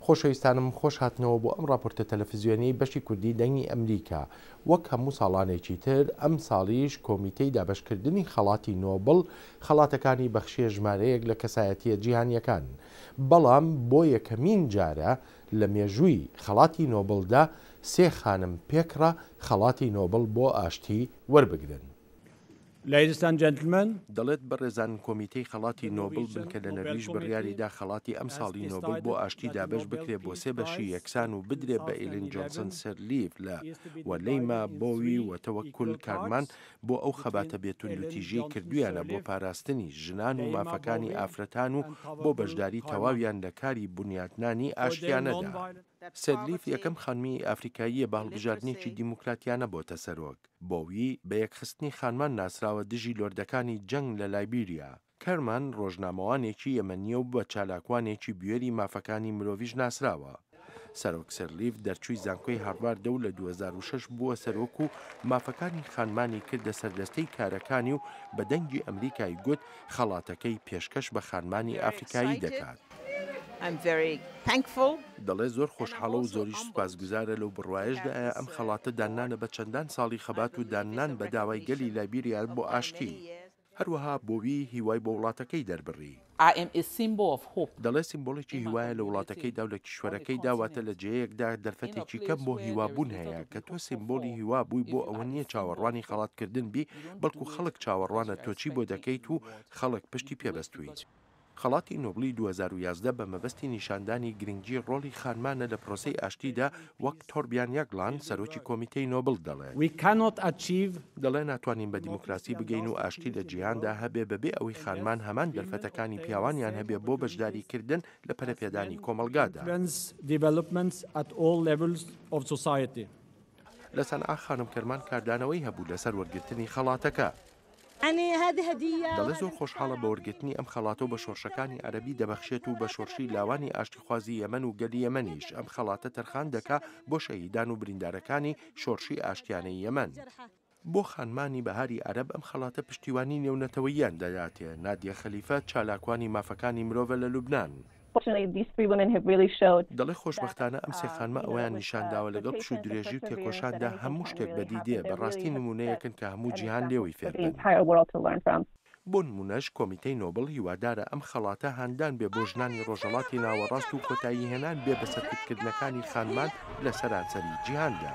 خۆشەویستانم خۆش هاتنەوە بۆ ئەم ڕاپۆرتە تەلەفزیۆنیەی بەشی کوردی دەنگی ئەمریکا. وەک هەموو ساڵانێکی تر ئەم ساڵیش کۆمیتەی دابەشکردنی خەڵاتی نۆبڵ خەڵاتەکانی بەخشیە ژمارەیەک لە کەسایەتیە جیهانیەکان بەڵام بۆ یەکەمین جارە لە مێژووی خەڵاتی نۆبڵدا سێ خانم پێکڕا خەڵاتی نۆبڵ بۆ ئاشتی وەربگرن. دەڵێت بەڕێزان کۆمیتەی خەڵاتی نۆبڵ بنکە لە نەرویژ بڕیاریدا خەڵاتی ئەمساڵی نۆبڵ بۆ ئاشتی دابەش بکرێت بۆ سێ بەشی یەکسان و بدرێت بە ئیلین جۆنسن سیرلیف لە و لەیما بۆوی و تەوەکول کارمان بۆ ئەو خەباتە بێ توندوتیژیەی کردویانە بۆ پاراستنی ژنان و مافەکانی ئافرەتان و بۆ بەشداری تەواویان لە کاری بونیاتنانی ئاشتیانەدا. سەرلیف یەکەم خانمی ئەفریکاییە بە هەڵبژاردنێکی دیموکراتیانە بۆتە سەرۆک. بۆوی بە یەکخستنی خانمان ناسراوە دژی لۆردەکانی جەنگ لە لایبیریا. کەرمان ڕۆژنامەوانێکی یەمەنییە و بە چالاکوانێکی بوێری مافەکانی مرۆڤیش ناسراوە. سەرۆک سەرلیف دەرچووی زانکۆی هارڤاردە و لە دوو هەزار و شەش بووە سەرۆک و مافەکانی خانمانی کردە سەردەستەی کارەکانی و بە دەنگی ئەمریکای گوت خەڵاتەکەی پێشکەش بە خانمانی ئەفریکایی دەکات. دەڵێت زۆر خۆشحاڵە و زۆریش سوپاسگوزارە لەو بڕوایەشدا ئایا ئەم خەڵاتە داننانە بە چەندان ساڵی خەبات و داننان بە داوای گەلی لایبیریا بۆ ئاشتی. هەروەها بۆوی هیوای بۆ وڵاتەکەی دەربڕی. دەڵێت سیمبۆڵێکی هیوایە لە وڵاتەکەیدا و لە کیشوەرەکەیدا، واتە لە جێیەکدا دەرفەتێکی کەم بۆ هیوابوون هەیە، کە تۆ سیمبۆڵی هیوا بووی بۆ ئەوە نییە چاوەڕوانی خەڵاتکردن بی، بەڵکو خەڵک چاوەڕوانە تۆ چی بۆ دەکەیت و خەڵک پشتی پێبەستووی. خەڵاتی نۆبڵی دوو هەزار و یازدە بە مەبەستی نیشاندانی گرنگی ڕۆڵی خانمانە لە پرۆسەی ئاشتیدا وەک تۆربیان یاگلان، سەرۆکی کۆمیتەی نۆبڵ دەڵێت. We cannot achieve. دەڵێت ناتوانین بە دیموکراسی بگەین و ئاشتی لە جیهاندا هەبێ بەبێ ئەوەی خانمان هەمان دەرفەتەکانی پیاوانیان هەبێ بۆ بەشداریکردن لە پەرەپێدانی کۆمەڵگادا. لە سەنعا خانم کەرمان کاردانەوەی هەبوو لەسەر وەرگرتنی خەڵاتەکە. دەڵێت زۆر خۆشحاڵە بە وەرگرتنی ئەم خەڵاتە و بە شۆڕشەکانی عەرەبی دەبەخشێت و بە شۆڕشی لاوانی ئاشتیخوازی یەمەن و گەلی یەمەنیش ئەم خەڵاتە تەرخان دەکا بۆ شەهیدان و بریندارەکانی شۆڕشی ئاشتیانەی یەمەن. بۆ خانمانی بەهاری عەرەب ئەم خەڵاتە پشتیوانی نێونەتەوەییان دەداتێ، نادیە خەلیفە، چالاکوانی مافەکانی مرۆڤە لە لوبنان، دەڵێ خۆشبەختانە ئەم سێ خانمە ئەوەیان نیشان داوە لەگەڵ پشو و درێژی و تێکۆشاندا هەموو شتێک بەدی دێ، بە ڕاستی نموونەیەکن کە هەموو جیهان لێوەی فێر بن. بۆ نموونەش کۆمیتەی نۆبڵ هیوادارە ئەم خەڵاتە هاندان بێ بۆ ژنانی ڕۆژهەڵاتی ناوەڕاست و کۆتایی هێنان بێ بە سەرکوتکردنەکانی خانمان لە سەرانسەری جیهاندا.